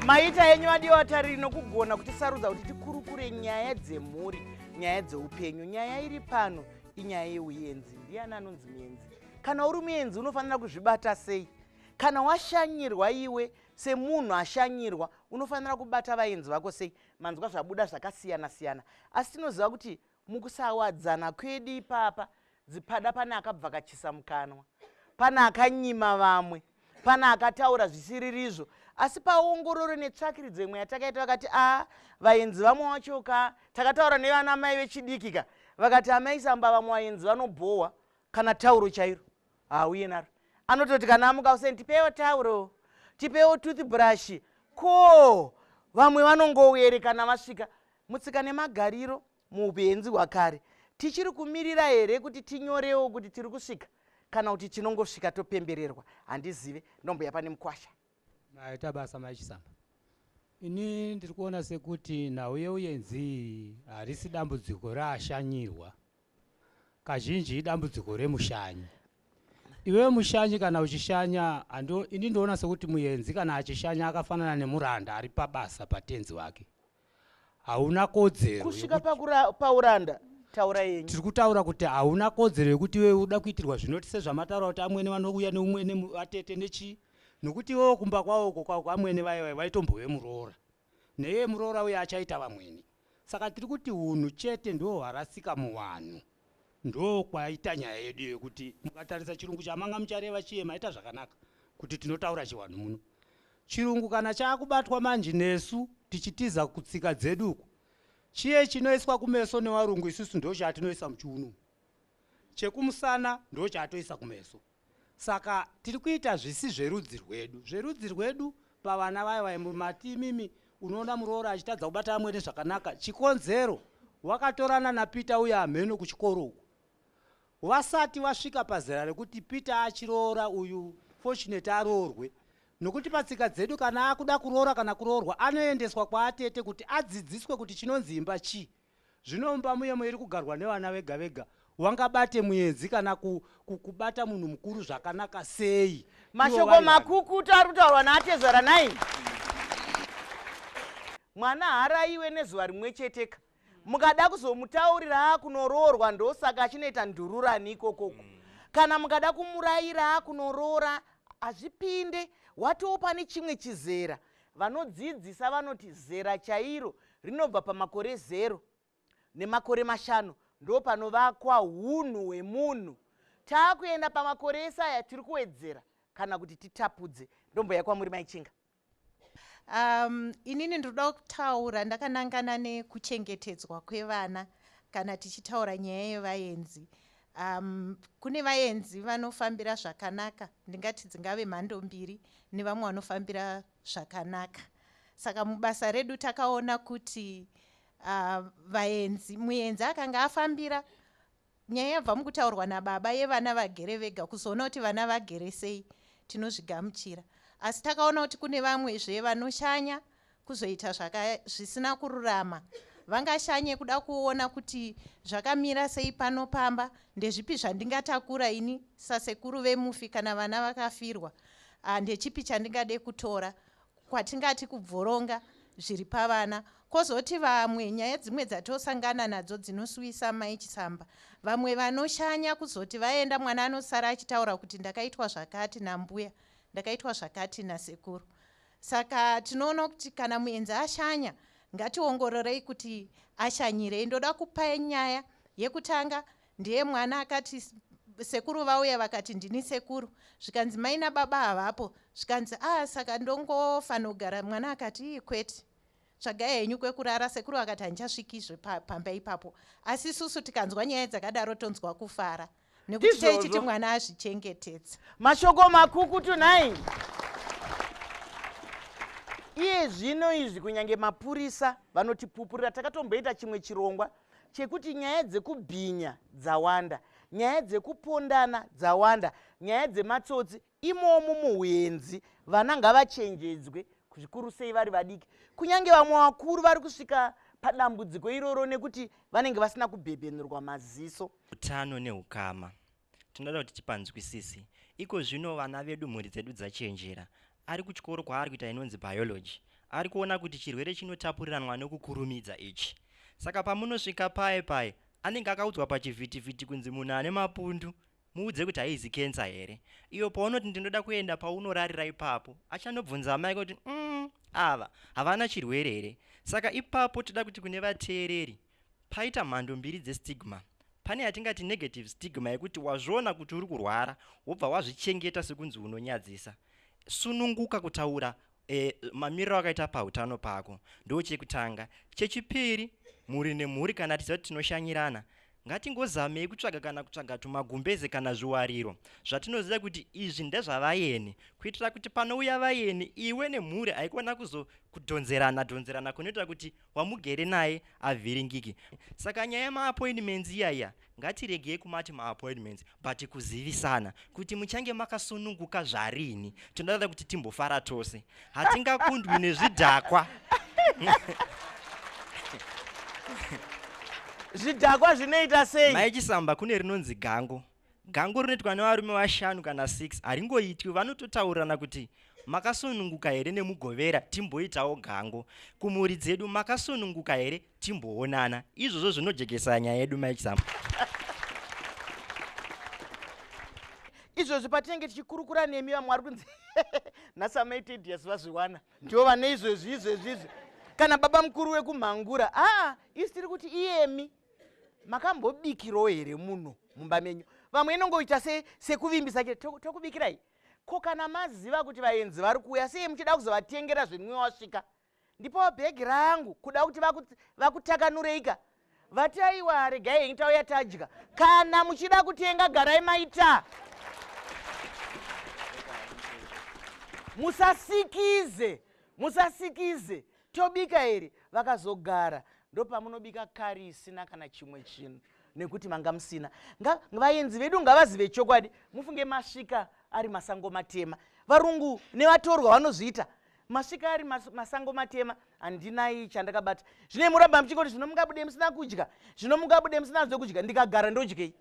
maita henyu vadiwa vatariri nokugona kutisarudza kuti tikurukure nyaya dzemhuri nyaya dzeupenyu nyaya iri pano inyaya yeuyenzi ndiani anonzi muyenzi kana uri muyenzi unofanira kuzvibata sei kana washanyirwa iwe semunhu ashanyirwa unofanira kubata vayenzi vako sei manzwa zvabuda zvakasiyana siyana asi tinoziva kuti mukusawadzana kwedu ipapa dzipada pane akabvakachisa mukanwa pane akanyima vamwe pane akataura zvisiririzvo asi paongororo netsvakiridzo imwe yatakaita vakati a ah, vaenzi vamwe wacho ka takataura nevana mai vechidiki ka vakati amai samba vamwe vaenzi vanobhohwa kana tauro chairo hauye naro anototi kana amuka useni tipewo tauro tipewo toothbrush ko vamwe vanongouyerekana vasvika mutsika nemagariro muupenzi hwakare tichiri kumirira here kuti tinyorewo kuti tiri kusvika kana kuti tinongosvika topembererwa handizive ndombuya pane mukwasha maita basa maichisamba ini ndiri kuona sekuti nhau yeuyenzi harisi dambudziko raashanyirwa kazhinji idambudziko remushanyi iwe mushanyi kana uchishanya ini ndoona sekuti muyenzi kana achishanya akafanana nemuranda ari pabasa patenzi wake hauna kodzero kusvika pauranda taura yenyu tiri kutaura kuti hauna kodzero yekuti iwe uda kuitirwa zvinoti sezvamataura kuti amwene vanouya neumwene vatete nechii nokuti iwewo kumba kwavo uko kwavo kwamwene vaye vaitombove muroora neiye muroora uye achaita vamwene saka tiri kuti unhu chete ndo hwarasika muvanhu ndo kwaita nyaya yedu yekuti mukatarisa chirungu chamanga muchareva chiye maita zvakanaka kuti tinotaura chiwanhu muno Chirungu kana chakubatwa manje nesu tichitiza kutsika dzedu uku. Chiye chinoiswa kumeso newarungu isusu ndo chatinoisa muchiunu. Chekumusana ndo chatoisa kumeso. Saka tiri kuita zvisi zverudzi rwedu. Zverudzi rwedu pavana vaya vaya mati imimi unoona muroora achitadza kubata amwene zvakanaka. Chikonzero wakatorana naPeter uya hameno kuchikoro uku. Wasati wasvika pazera rekuti Peter achiroora uyu Fortunate aroorwe nokuti patsika dzedu kana akuda kuroora kana kuroorwa anoendeswa kwaatete kuti adzidziswe kuti chinonzi imba chii. Zvino mumba muye muiri kugarwa nevana vega vega wangabate muenzi kana ku, ku, kubata munhu mukuru zvakanaka sei? Mashoko makukutu ari kutaurwa naatezvara naini mwana haaraiwe nezuva rimwe cheteka mukada kuzomutaurira akunoroorwa ndosaka achinoita ndururani ikoko uko mm. kana mukada kumurayira akunoroora hazvipinde watiwo pane chimwe chizera vanodzidzisa vanoti zera chairo rinobva pamakore zero nemakore mashanu ndo panovakwa unhu hwemunhu taakuenda pamakore ese aya tiri kuwedzera kana kuti titapudze ndombo yakwamuri maichinga Um, inini ndinoda kutaura ndakanangana nekuchengetedzwa kwevana kana tichitaura nyaya yevaenzi um, kune vaenzi vanofambira zvakanaka ndingati dzingave mhando mbiri nevamwe vanofambira zvakanaka saka mubasa redu takaona kuti uh, vaenzi muenzi akanga afambira Nyaya yabva mukutaurwa nababa yevana vagere vega kuzoona kuti vana vagere sei tinozvigamuchira asi takaona kuti kune vamwe zve vanoshanya kuzoita zvisina kururama vangashanye kuda kuona kuti zvakamira sei pano pamba ndezvipi zvandingatakura ini sasekuru vemufi kana vana vakafirwa ah, ndechipi chandingade kutora kwatingati kubvoronga zviri pavana kozoti vamwe nyaya dzimwe dzatosangana nadzo dzinosuwisa mai chisamba vamwe vanoshanya kuzoti vaenda mwana anosara achitaura kuti ndakaitwa zvakati nambuya ndakaitwa zvakati nasekuru saka tinoona kuti kana muenzi ashanya ngationgororei kuti ashanyirei ndoda kupai nyaya yekutanga ndiye mwana akati sekuru vauya vakati ndini sekuru zvikanzi mai nababa havapo zvikanzi a ah, saka ndongofanogara mwana akati ii kwete tsvagai henyu kwekurara sekuru vakati handichasvikizve pamba ipapo asi susu tikanzwa nyaya dzakadaro tonzwa kufara nekuti taichiti mwana azvichengetedza mashoko makuku tunai iye zvino izvi kunyange mapurisa vanotipupurira takatomboita chimwe chirongwa chekuti nyaya dzekubhinya dzawanda nyaya dzekupondana dzawanda nyaya dzematsotsi imomo muhwenzi vana ngavachenjedzwe zvikuru sei vari vadiki kunyange vamwe vakuru vari kusvika padambudziko iroro nekuti vanenge vasina kubhebhenurwa maziso utano neukama tinoda kuti tipanzwisise iko zvino vana vedu mhuri dzedu dzachenjera ari kuchikoro kwaari kuita inonzi biology ari kuona kuti chirwere chinotapuriranwa nokukurumidza ichi saka pamunosvika paye paye anenge akaudzwa pachivhitivhiti kunzi munhu ane mapundu muudze kuti haizi kensa here iyo paunoti ndinoda kuenda paunorarira ipapo achanobvunza amai kuti mm, ava havana chirwere here saka ipapo toda kuti kune vateereri Paita mhando mbiri dzestigma. Pane yatingati negative stigma yekuti wazviona kuti uri kurwara wobva wazvichengeta sekunzi unonyadzisa. Sununguka kutaura e, mamiriro akaita pautano pako ndo chekutanga. Chechipiri, mhuri nemhuri kana tiziva kuti tinoshanyirana ngatingozamei kutsvaga kana kutsvaga tumagumbeze kana zviwariro zvatinoziva kuti izvi ndezvavayeni kuitira kuti panouya vayeni iwe nemhuri haikona kuzokudhonzerana dhonzerana kunoita kuti wamugere naye avhiringiki saka nyaya yemaappointments iyaiya ngatiregei kumati maappointments but kuzivisana kuti muchange makasununguka zvarini tinoda kuti timbofara tose hatingakundwi nezvidhakwa zvidhakwa zvinoita sei maichisamba kune rinonzi gango Gango rinoitwa nevarume vashanu kana 6 haringoitwi, vanototaurirana kuti makasununguka here nemugovera timboitawo gango kumhuri dzedu makasununguka here timboonana izvozvo zvinojekesa nyaya yedu maexample izvozvi patinenge tichikurukura nemi vamwe vari kunzi nhasi amaitedias vazviwana ndivo vane izvezvi izvezvi izvi kana baba mukuru wekumhangura aa ah, isi tiri kuti iyemi makambobikirawo here muno mumba menyu vamwe inongoita sekuvimbisa se tokubikirai ko kana maziva kuti vaenzi vari kuuya sei muchida kuzovatengera zvinwiwa wasvika ndipowo bhegi rangu kuda kuti vakutakanureika vati aiwa regai henyu tauya tadya kana muchida kutenga garai maita musasikize musasikize Tobika here? Vakazogara. Ndopamunobika kari isina kana chimwe chinhu nekuti manga musina nga vaenzi vedu ngavazive chokwadi mufunge masvika ari masango matema varungu nevatorwa vanozviita masvika ari mas, masango matema handinai chandakabata zvine muramba muchingoti zvino mungabude musina kudya zvino mungabude musina zvekudya ndikagara ndodyei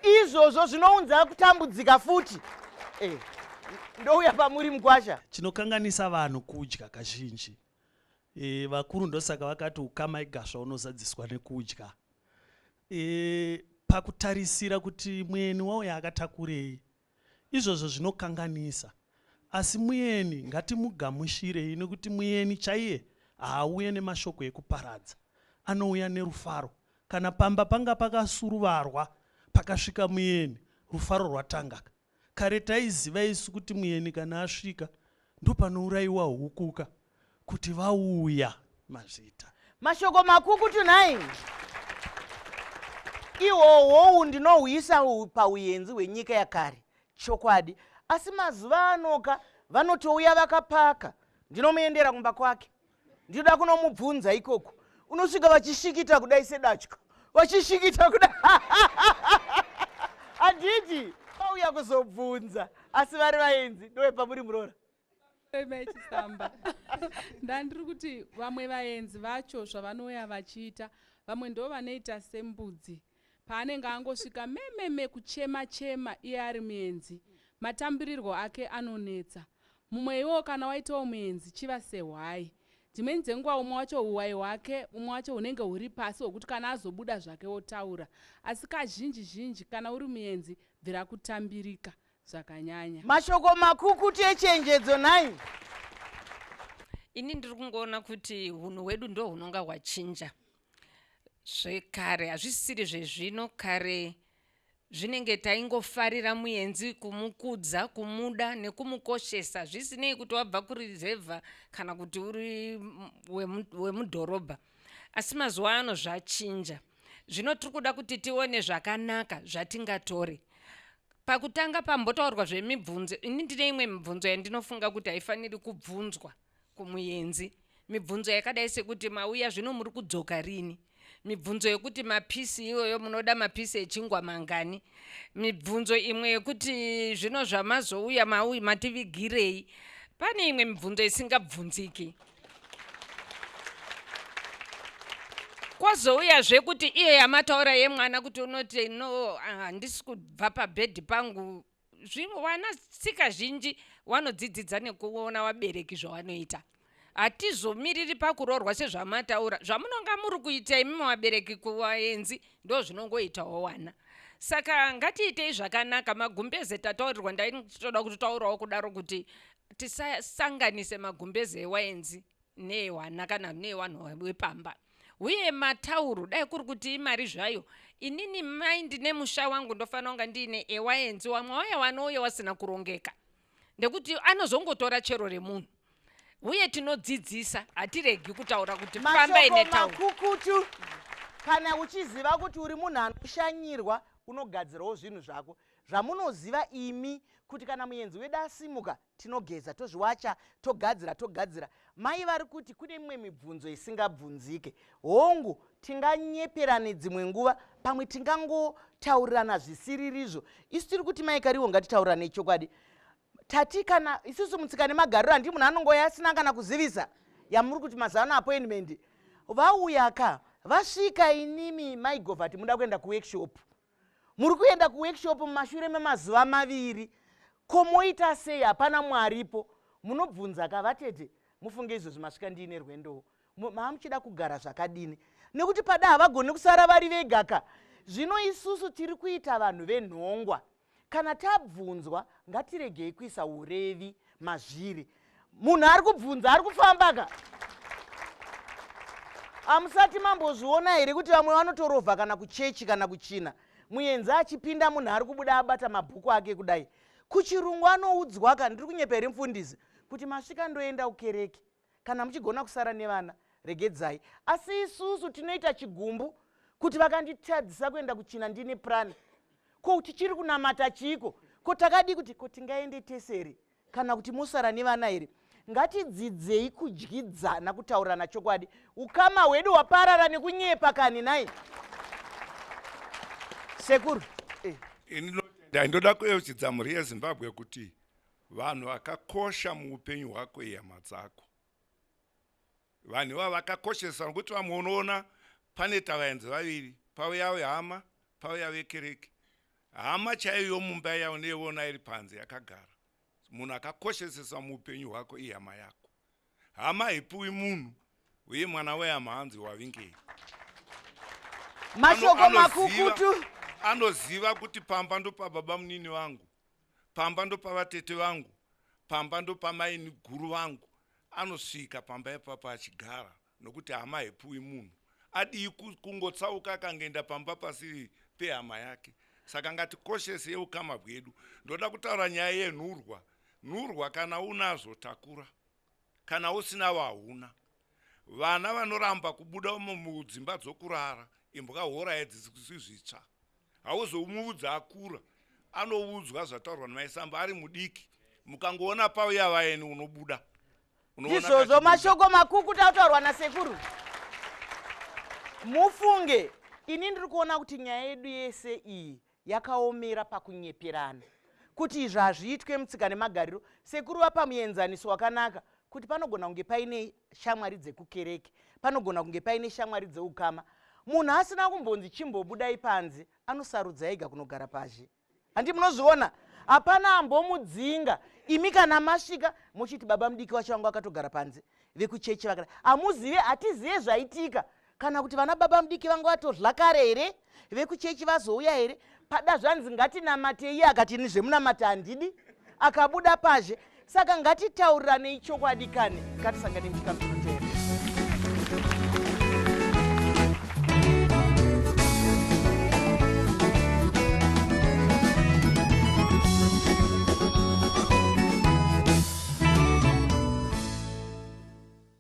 izvozvo zvinounza kutambudzika futi eh, ndouya pamuri mukwasha chinokanganisa vanhu kudya kazhinji e, vakuru ndosaka vakati ukama igasva unozadziswa nekudya e, pakutarisira kuti mweni wauya akatakurei Izvozvo zvinokanganisa. Asi mueni ngatimugamushirei nekuti mueni chaiye haauye nemashoko ekuparadza. Anouya nerufaro. Kana pamba panga pakasuruvarwa pakasvika mueni, rufaro rwatangaka. Kare taiziva isu kuti mueni kana asvika ndopanouraiwa hukuka. kuti vauya mazvita mashoko makukutu nhai ihwohwowu ndinohwisa pauyenzi hwenyika yakare chokwadi asi mazuva anoka vanotouya vakapaka ndinomuendera kumba kwake ndinoda kunomubvunza ikoko unosvika vachishikita kudai sedatya vachishikita kudai handiti vauya kuzobvunza asi vari vaenzi ndovepamuri muroora vechisamba ndandiri kuti vamwe vaenzi vacho zvavanouya vachiita vamwe ndo vanoita sembudzi paanenge angosvika mememe kuchema chema iye ari muenzi matambirirwo ake anonetsa mumwe iwowo kana waitawo muenzi chiva sehwai dzimweni dzenguva umwe wacho huwai hwake umwe wacho hunenge huri pasi hwekuti kana azobuda zvake wotaura asi kazhinji zhinji kana uri muenzi bvira kutambirika zvakanyanya. Mashoko makukutu echenjedzo nhai. Ini ndiri kungoona kuti hunhu hwedu ndo hunonga hwachinja zvekare hazvisisiri zvezvino kare zvinenge taingofarira muenzi kumukudza kumuda nekumukoshesa zvisinei kuti wabva kurizevha kana kuti uri wemudhorobha asi mazuva ano zvachinja Zvino tiri kuda kuti tione zvakanaka zvatingatore. Pakutanga pambotaurwa zvemibvunzo, ini ndine imwe mibvunzo yandinofunga kuti haifaniri kubvunzwa kumuyenzi. Mibvunzo yakadai sekuti mauya zvino muri kudzoka rini? mibvunzo yekuti mapisi iyoyo munoda mapisi echingwa mangani mibvunzo imwe yekuti zvino zvamazouya mativigirei pane imwe mibvunzo isingabvunziki kwozouyazve kuti iyo yamataura yemwana kuti unoti no handisi ah, kubva pabhedhi pangu vana tsika zhinji wanodzidzidza nekuona wabereki zvawanoita hatizomiriri pakuroorwa sezvamataura zvamunonga muri kuita imimi wabereki kuvaenzi ndo zvinongoitawo wana saka ngatiitei zvakanaka magumbeze tataurirwa ndaitoda kutotaurawo kudaro kuti tisasanganise magumbeze ewaenzi neehwana kana neewanhu wepamba uye matauro dai kuri kuti imari zvayo inini mai ndine musha wangu ndofanira kunga ndiine ewaenzi wamwe waya wanouye wasina kurongeka nekuti anozongotora chero remunhu uye tinodzidzisa hatiregi kutaura kuti pamba ine taurokukutu kana uchiziva kuti uri munhu anoshanyirwa unogadzirawo zvinhu zvako Zvamunoziva imi kuti kana muyenzi wedu asimuka tinogeza tozviwacha togadzira togadzira. Mai vari kuti kune mimwe mibvunzo isingabvunzike. Hongu, tinganyeperane dzimwe nguva, pamwe tingangotaurirana zvisiririzvo. Isu tiri kuti mai Kariwo ngatitaurirane chokwadi. Tati kana isusu mutsika nemagariro handi munhu anongoya asina kana kuzivisa yamuri kuti mazuva ano appointment. Vauya ka vasvika inimi maigovati muda kuenda kuworkshop. muri kuenda kuworkshop mumashure memazuva maviri ko moita sei hapana mwaripo munobvunza ka vatete mufunge izvozvi masvika ndiine rwendowo maa muchida kugara zvakadini nekuti pada havagoni kusara vari vega ka zvino isusu tiri kuita vanhu venhongwa Kana tabvunzwa ngatiregei kuisa urevi mazviri. Munhu ari kubvunza ari kufamba ka amusati mambozviona here kuti vamwe vanotorovha kana kuchechi kana kuchina muyenzi achipinda munhu ari kubuda abata mabhuku ake kudai kuchirungu anoudzwaka ndiri kunyepa here mfundisi kuti masvika ndoenda kukereke kana muchigona kusara nevana regedzai asi isusu tinoita chigumbu kuti vakanditadzisa kuenda kuchina ndine prani ko tichiri kunamata chiiko ko takadii kuti ko tingaende tese here kana kuti mosara nevana here ngatidzidzei kudyidzana kutaurirana chokwadi ukama hwedu hwaparara nekunyepa kani nai sekuru eh. ini ndoda kueuchidza mhuri yezimbabwe kuti Vanhu vakakosha muupenyu hwako ihama dzako. Vanhu ivavo vakakoshesa nokuti vamwe unoona pane tavaenzi vaviri, pauya wehama, pauya vekereke. Hama chaiyo yomumba iya unoiona iri panze yakagara. Munhu akakoshesesa muupenyu hwako ihama yako. hama haipiwi munhu uye mwana wehama hanzi wavingei mashoko makukutu anoziva kuti pamba ndopababa munini vangu pamba ndopavatete vangu pamba ndopamaini guru vangu anosvika pamba ipapa achigara nokuti hama haipiwi munhu adii kungotsauka akangoenda pamba pasiri pehama yake saka ngatikoshese yeukama bwedu ndoda kutaura nyaya yenhurwa Nhurwa kana unazvo takura kana usinawo hauna. Vana vanoramba kubuda mudzimba dzokurara imbwa hora yedzisi zvitsva. Hauzomuudza akura anoudzwa zvataurwa namai Samba ari mudiki mukangoona pauya vaeni unobuda. Ndizvozvo mashoko makukuta ataurwa nasekuru. Mufunge ini ndiri kuona kuti nyaya yedu yese iyi yakaomera pakunyeperana kuti izvi hazviitwe mutsika nemagariro sekuru vapa muenzaniso wakanaka kuti panogona kunge paine shamwari dzekukereke panogona kunge paine shamwari dzeukama munhu asina kumbonzi chimbobudai panze anosarudza ega kunogara pazhe handi munozviona hapana ambomudzinga imi kana masvika mochiti baba mudiki wacho vanga vakatogara panze vekuchechi vakada hamuzive hatizive zvaitika kana kuti vana baba mudiki vanga vatodla kare here vekuchechi vazouya here pada zvanzi ngatinamate iye akati ini zvemunamata handidi akabuda pazhe saka ngatitaurirane ichokwadi kani ngatisangane muchikamiro chee